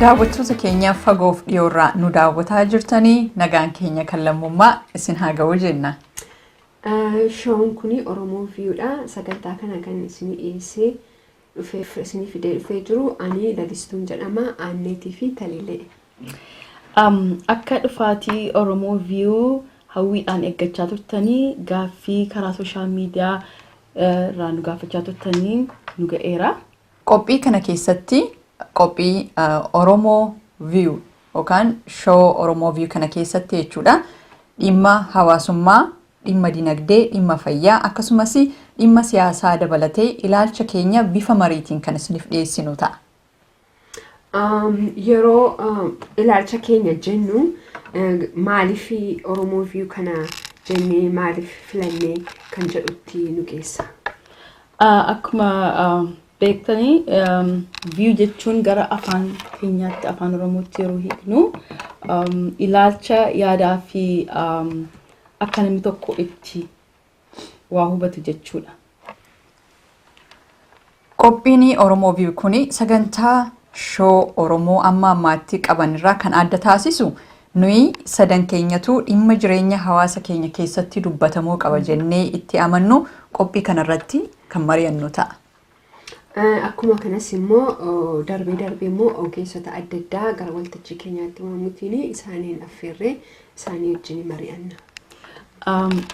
Daawwattoota keenya fagoof dhiyoorraa nu daawwataa jirtanii nagaan keenya kan lammummaa isin haa ga'u jenna. Shoon kun Oromoo Viiyuudha. Sagantaa kana kan isin dhiyeessee dhufeef isin fidee dhufee jiru ani lalistuun jedhama aanneetii fi talilee. Um, akka dhufaatii Oromoo Viiyuu hawwiidhaan eeggachaa turtanii gaaffii karaa sooshaal miidiyaa eh, irraa nu gaafachaa turtanii nu ga'eera. Qophii kana keessatti qophii Oromo View yookaan show Oromo View kana keessatti jechuudha dhimma hawaasummaa, dhimma dinagdee, dhimma fayyaa akkasumas dhimma siyaasaa dabalatee ilaalcha keenya bifa mariitiin kan isiniif dhiyeessinu ta'a. Um, yeroo um, ilaalcha keenya jennu eh, maaliif Oromoo view kana jennee maaliif filannee kan jedhutti nu geessa. Akkuma beektanii view jechuun gara afaan keenyaatti afaan oromootti yeroo hiiknu ilaalcha yaadaa fi akka namni tokko itti waa hubatu jechuudha. Qophiin Oromoo View kun sagantaa shoo Oromoo amma ammaatti qaban irraa kan adda taasisu Nuyi sadan keenyatuu dhimma jireenya hawaasa keenya keessatti dubbatamuu qaba jennee itti amannu qophii kana irratti kan mari'annu ta'a. Akkuma kanas immoo darbee darbee immoo ogeessota adda addaa gara waltajjii keenyaatti waamuutiin isaaniin affeerree isaanii wajjin mari'anna.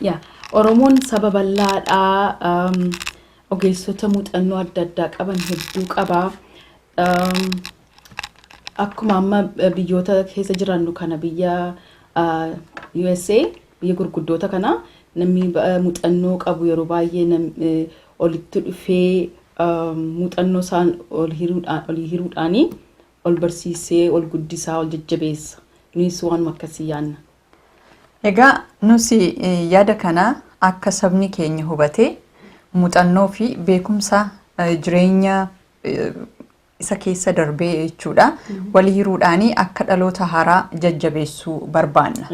Yaa Oromoon saba bal'aadhaa ogeessota muuxannoo adda addaa qaban hedduu qaba. Akkuma amma biyyoota keessa jirannu kana biyya USA biyya gurguddoota kana namni muuxannoo qabu yeroo baay'ee olitti dhufee muuxannoo isaan ol hiruudhaanii ol barsiisee ol guddisaa ol jajjabeessa. Nunis waanuma akkasii yaanna. Egaa nus yaada kana akka sabni keenya hubatee muuxannoo fi beekumsa jireenya isa keessa darbee jechuudha. Wal hiruudhaanii akka dhaloota haaraa jajjabeessuu barbaanna.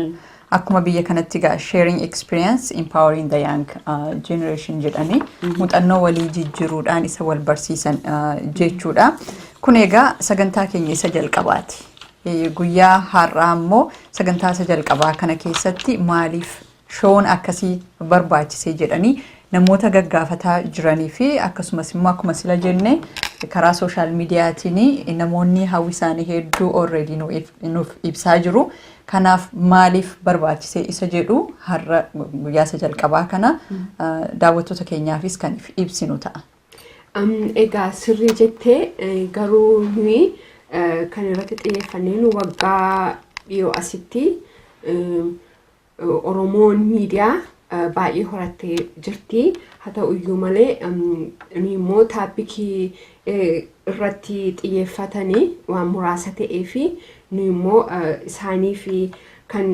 Akkuma biyya kanatti egaa sharing experience empowering the young uh, generation jedhanii muuxannoo walii jijjiiruudhaan isa wal barsiisan uh, jechuudha. Kun egaa sagantaa keenya isa jalqabaati. Eh, Guyyaa har'aa immoo sagantaa isa jalqabaa kana keessatti maaliif Shown akkasii barbaachise jedhanii namoota gaggaafataa jiranii fi akkasumas immoo akkuma sila jenne karaa sooshaal miidiyaatiin namoonni hawwi isaanii hedduu already nu if- nuuf ibsaa jiru. Kanaaf maaliif barbaachise isa jedhu har'a guyyaa isa jalqabaa kana ah, daawwattoota keenyaafis kan if- ibsinu ta'a. Am, Egaa sirrii jettee eh, garuu nuyi eh, kan irratti xiyyeeffanneen waggaa dhiyoo asitti eh, Oromoon miidiyaa baay'ee horattee jirti. Haa ta'u iyyuu malee nuyi immoo taappikii irratti xiyyeeffatanii waan muraasa ta'ee fi nuyi immoo isaanii fi kan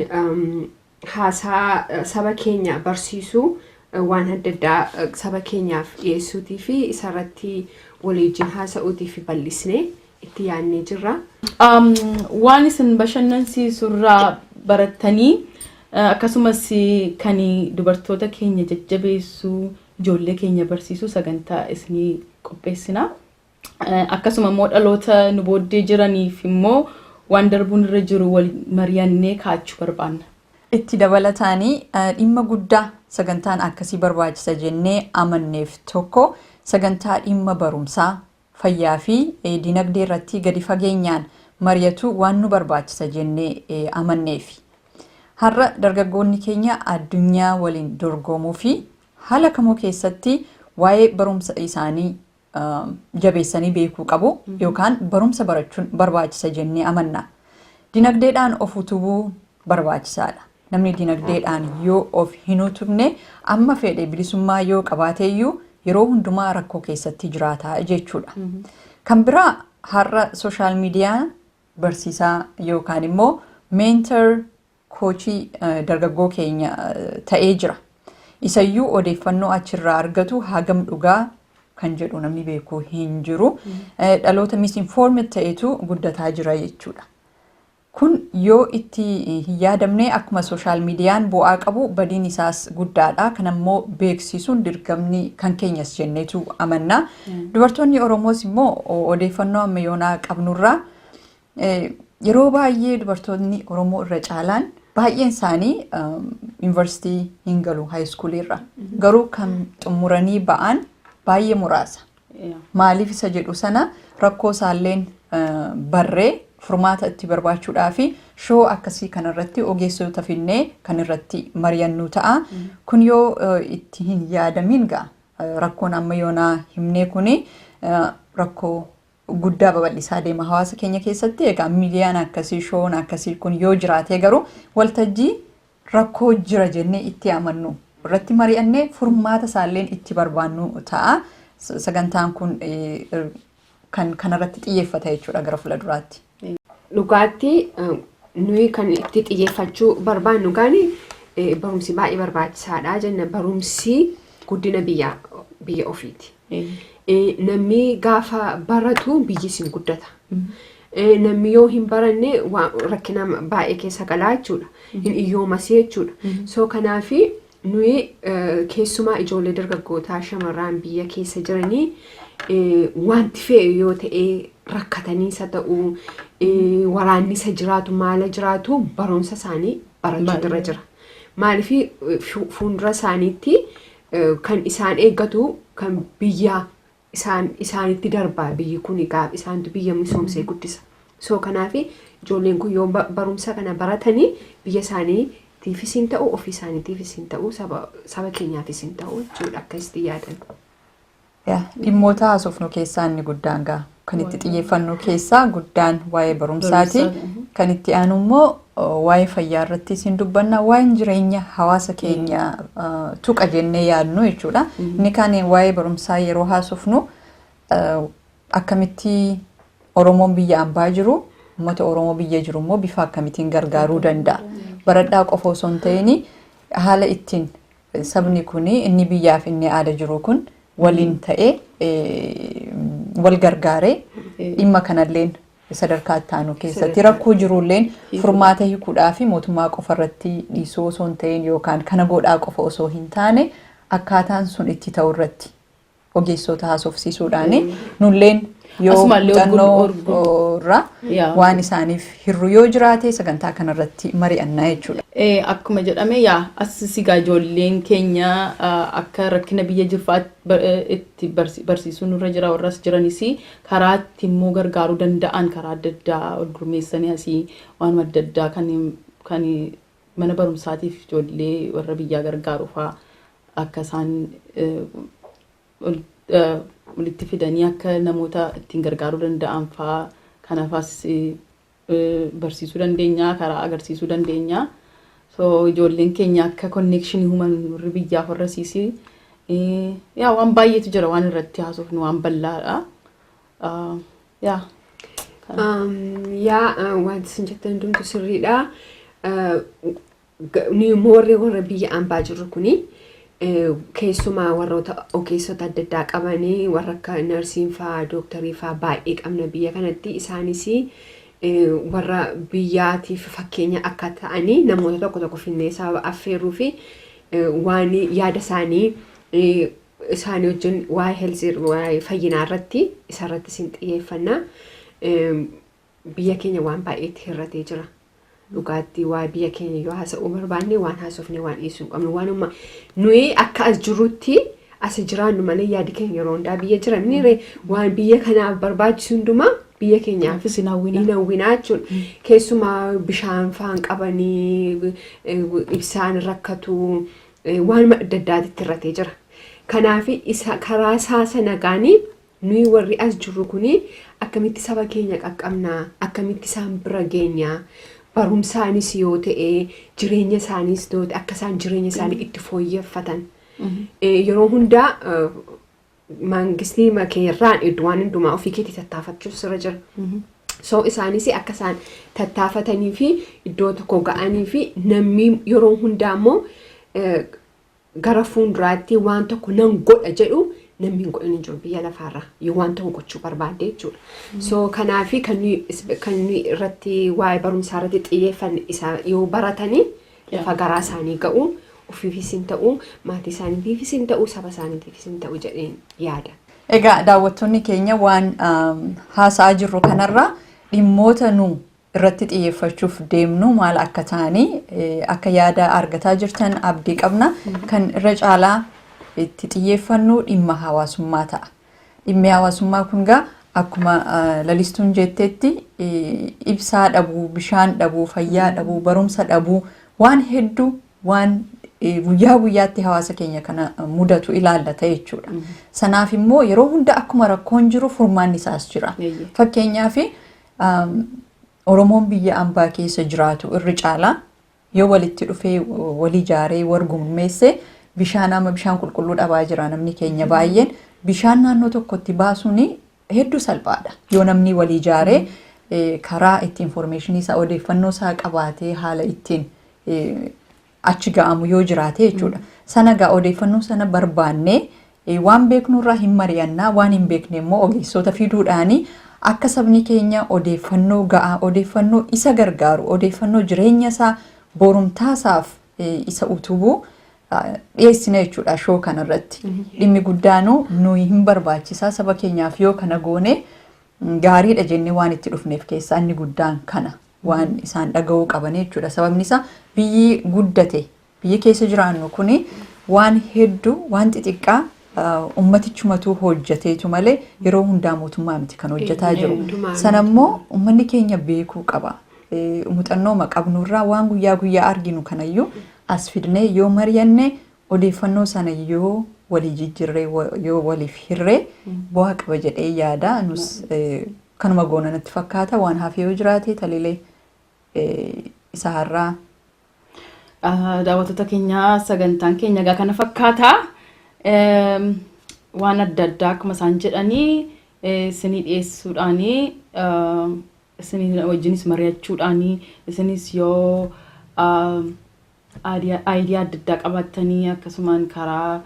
haasaa saba keenya barsiisuu waan adda addaa saba keenyaaf dhiyeessuutii fi isarratti waliijin haasa'uutii fi bal'isnee itti yaadnee jirra. Um, waan isin bashannansiisu irraa barattanii eh, akkasumas kan dubartoota keenya jajjabeessu ijoollee keenya barsiisu sagantaa isinii qopheessina. Eh, Akkasuma immoo dhaloota nu booddee jiraniif immoo waan darbuun irra jiru wal mari'annee kaachuu barbaanna. Itti dabalataanii eh, dhimma guddaa sagantaan akkasii barbaachisa jennee amanneef tokko sagantaa dhimma barumsaa fayyaa fi dinagdee irratti gadi fageenyaan mari'atuu waan nu barbaachisa jennee amanneefi. Har'a dargaggoonni keenya addunyaa waliin dorgomuu fi haala kamuu keessatti waa'ee barumsa isaanii jabeessanii beekuu qabu yookaan barumsa barachuun barbaachisa jennee amanna. Dinagdeedhaan of utubuu barbaachisaa dha. Namni dinagdeedhaan yoo of hin utubne amma feedhe bilisummaa yoo qabaate iyyuu yeroo hundumaa rakkoo keessatti jiraata jechuu dha. Kan biraa har'a sooshaal miidiyaa barsiisaa yookaan immoo meentar koochii dargaggoo keenya ta'ee jira. Isayyuu odeeffannoo achirraa argatu hagam dhugaa kan jedhu namni beeku hin jiru. Dhaloota misinformed ta'etu guddataa jira jechuudha. Kun yoo itti hin yaadamne akkuma social median bu'aa qabu badiin isaas guddaadha. Kana immoo beeksiisuun dirgamni kan keenyas jenneetu amanna. Dubartoonni Oromoos immoo odeeffannoo amma yoonaa qabnurraa yeroo baay'ee dubartoonni Oromoo irra caalaan baay'een isaanii yuunivarsiitii hin galu haayiskuulii irra. Garuu kan xumuranii ba'an baay'ee muraasa. Maaliif isa jedhu sana rakkoo isaalleen barree furmaata itti barbaachuudhaa fi shoo akkasii kanarratti ogeessota finnee kan irratti mari'annu ta'a. Kun yoo itti hin yaadamiin gaa rakkoon amma yoonaa himnee kuni rakkoo guddaa babal'isaa deema hawaasa keenya keessatti egaa miidiyaan akkasii shoon akkasii kun yoo jiraatee garuu waltajjii rakkoo jira jennee itti amannu irratti mari'annee furmaata isaalleen itti barbaannu ta'a. S- Sagantaan kun eh, er- kan kanarratti xiyyeeffata jechuudha gara fuula duraatti. dhugaatti eh, nuyi kan itti xiyyeeffachuu barbaannu gaani eh, barumsi baay'ee barbaachisaadha jenna barumsi guddina biyya biyya ofiiti. Namni gaafa baratu biyyi sin guddata. Namni yoo hin baranne rakkina baay'ee keessa galaa jechuudha. Hin iyyoomasee jechuudha. Soo kanaaf nuyi keessumaa ijoollee dargaggootaa shamarraan biyya keessa jiranii wanti fe'e yoo ta'e rakkataniisa ta'u waraannisa jiraatu maala jiraatu barumsa isaanii barachuu irra jira. Maaliif fuuldura isaaniitti kan isaan eeggatu kan biyya isaan isaanitti darbaa biyyi kun egaa isaantu biyya misoomsee guddisa. So kanaaf ijoolleen kun yoo ba- barumsa kana baratanii biyya isaaniitiifis hin ta'u ofii isaaniitiifis hin ta'u saba saba keenyaafis hin ta'u jechuudha akka itti yaadan. Dhimmoota haasofnu keessaa inni guddaan gaa kan itti xiyyeeffannu keessaa guddaan waa'ee barumsaati. Kan itti aanu immoo waa'ee fayyaa irratti isin dubbanna waa'een jireenya hawaasa keenya tuqa jennee yaadnu jechuudha. Inni kaan waa'ee barumsaa yeroo haasofnu akkamitti Oromoon biyya ambaa jiru uummata Oromoo biyya jiru immoo bifa akkamitiin gargaaruu danda'a. Baradhaa qofa osoo hin ta'in haala ittiin Sabni kun inni biyyaa fi inni aada jiru kun waliin ta'ee wal gargaaree dhimma kanalleen sadarkaa itti aanu keessatti rakkoo jirulleen furmaata hiikuudhaa fi mootummaa qofa irratti dhiisuu osoo hin ta'in yookaan kana godhaa qofa osoo hin taane akkaataan sun itti ta'u irratti ogeessoota haasofsiisuudhaani nulleen yoo Asumaallee muuxannoo orgu- oo, irraa Yaa. waan isaaniif hirru yoo jiraate sagantaa kanarratti mari'annaa jechuudha. Eh, akkuma jedhame yaa as sigaa ijoolleen keenya ah, akka rakkina biyya jirfaa bar- eh, itti barsi- barsiisuu nurra jira warras jiranis karaa itti immoo gargaaruu danda'an karaa adda addaa ol gurmeessanii asii waan adda addaa kan kan mana barumsaatiif ijoollee warra biyyaa gargaaru faa akka isaan walitti fidanii akka namoota ittiin gargaaruu danda'an faa kanafaas barsiisuu dandeenya karaa agarsiisuu dandeenya. So ijoolleen keenya akka konneekshinii human warri biyyaaf warra siisii yaa waan baay'eetu jira waan irratti haasofnu waan bal'aadha. Ah, Yaa. Kana. Um, yaa uh, wanti isin jettan hundumtu sirriidha. Uh, ga- nuyi moorri warra biyya ambaa jirru kuni eh, keessumaa warroota ogeessota adda addaa qabanii warra akka narsiin faa dooktarii faa baay'ee qabna biyya kanatti isaanis eh, warra biyyaatiif fakkeenya akka ta'anii namoota tokko tokko finnee sababa affeeruu fi eh, waan yaada isaanii eh, isaanii wajjin waa'ee health waa'ee fayyinaa irratti isa irratti isin xiyyeeffannaa biyya keenya waan baay'eetti hir'atee jira. Dhugaatti waa biyya keenya yoo haasa'uu barbaanne waan haasofne waan dhiisuu hin qabnu waanuma nuyi akka as jirrutti asi jiraannu malee yaadi keenya yeroo hundaa biyya jira miniire waan biyya kanaaf barbaachisu hundumaa biyya keenyaaf Kanaafis hin hawwina. hin hawwinaa jechuudha. Keessumaa bishaan faan qabanii eh, ibsaan rakkatu waanuma adda addaatitti irratee jira. Kanaaf isa karaa isaa sanagaanii nuyi warri as jirru kun akkamitti saba keenya qaqqabnaa akkamitti isaan bira geenyaa barumsaanis yoo ta'e jireenya isaaniis yoo ta'e akka isaan jireenya isaanii itti fooyyeffatan yeroo hundaa mangistii keerraan idduwaan hundumaa ofii keetii tattaafachuus irra jira. So isaanis akka isaan tattaafatanii fi iddoo tokko ga'anii fi namni yeroo hundaa immoo eh, gara fuulduraatti waan tokko nan godha jedhu namni hin godhan hin jiru biyya lafaarra yoo waan tokko gochuu barbaadde jechuudha. So kanaafi kan nuyi is- kan nuyi irratti waa'ee barumsaa irratti xiyyeeffanne isaa yoo baratanii lafa garaa isaanii ga'u, ofiifis hin ta'u, maatii isaaniitiifis hin ta'u, saba isaaniitiifis hin ta'u jedheen yaada. Egaa daawwattoonni keenya waan haasa'aa jirru kanarraa dhimmoota nu irratti xiyyeeffachuuf deemnu maal akka ta'anii akka yaada argataa jirtan abdii qabna. Kan irra caalaa itti xiyyeeffannu dhimma hawaasummaa ta'a. Dhimmi hawaasummaa kun egaa akkuma lalistuun jetteetti ibsaa dhabuu, bishaan dhabuu, fayyaa dhabuu, barumsa dhabuu waan hedduu waan guyyaa guyyaatti hawaasa keenya kana mudatu ilaallata jechuudha. Sanaaf immoo yeroo hunda akkuma rakkoon jiru furmaanni isaas jira. Fakkeenyaaf Oromoon biyya ambaa keessa jiraatu irri caalaa Yoo walitti dhufee wal ijaaree wal gurmeesse bishaan amma bishaan qulqulluu dhabaa jira namni keenya baay'een bishaan naannoo tokkotti baasuun hedduu salphaadha. Yoo namni wal ijaaree eh, karaa itti infoormeeshinii isaa odeeffannoo isaa qabaatee haala ittiin eh, achi ga'amu yoo jiraate jechuudha. Sana gaa odeeffannoo sana barbaannee Waan beeknu irraa hin mari'anna, waan hin beekne immoo ogeessoota fiduudhaani akka sabni keenya odeeffannoo ga'aa, odeeffannoo isa gargaaru, odeeffannoo jireenya isaa borumtaa isaaf isa utubu dhiyeessina jechuudha shoo kana irratti. Dhimmi guddaanu nuyi hin barbaachisaa saba keenyaaf yoo kana goone gaariidha jennee waan itti dhufneef keessaa inni guddaan kana waan isaan dhaga'uu qabanii jechuudha. Sababni isaa biyyi guddate Biyyi keessa jiraannu kun waan heddu waan xixiqqaa ummatichumatuu hojjateetu malee yeroo hundaa mootummaa miti kan hojjataa jiru. Sana immoo ummanni keenya beekuu qaba. Muuxannooma qabnu irraa waan guyyaa guyyaa arginu kanayyuu as fidnee yoo mari'anne odeeffannoo sana yoo walii jijjirree yoo waliif hirree bu'aa qaba jedhee yaada. Nus kanuma goona natti fakkaata waan hafee yoo jiraate talilee isa har'aa Ah, Daawwattoota keenya sagantaan keenya egaa kana fakkaata. Eem, Waan adda addaa akkuma isaan jedhanii eh, isinii dhiyeessuudhaanii ah, isinii wajjinis mari'achuudhaanii isinis yoo ah, aadiyaa- aayidiyaa adda addaa qabaattanii akkasumaan karaa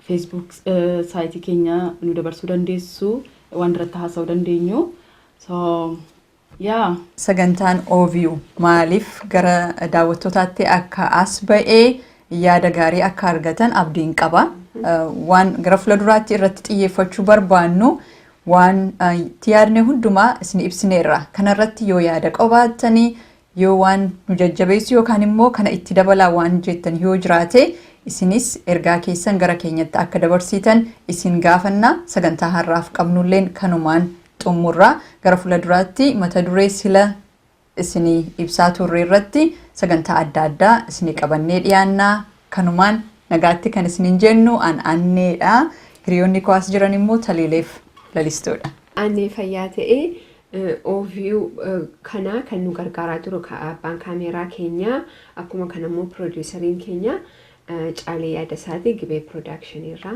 feesbuuk eh, saayitii keenya nu dabarsuu dandeessu waan irratti haasa'uu dandeenyu. So, Yaa! Sagantaan OVU maaliif gara daawwattootaatti akka as ba'e yaada gaarii akka argatan abdiin qaba. Waan gara fuulduraatti irratti xiyyeeffachuu barbaannu waan itti yaadne hundumaa isin ibsineerra. Kanarratti yoo yaada qabaattanii yoo waan nu jajjabeessu yookaan immoo kana itti dabalaa waan jettan yoo jiraate isinis ergaa keessan gara keenyatti akka dabarsiitan isin gaafanna sagantaa har'aaf qabnulleen kanumaan xummurra. Gara fuuladuraatti mata duree sila isinii ibsaa turre irratti sagantaa adda addaa isinii qabannee dhiyaanna. Kanumaan nagaatti kan isiniin jennu an Anneedha. Hiriyoonni koo as jiran immoo Taliileef Lalistuudha. Annee fayyaa ta'ee overview kanaa kan nu gargaaraa jiru abbaan kaameeraa keenya akkuma kanammoo piroodiisariin keenya Caalee Yaadasaati Gibee Piroodaakshiniirraa.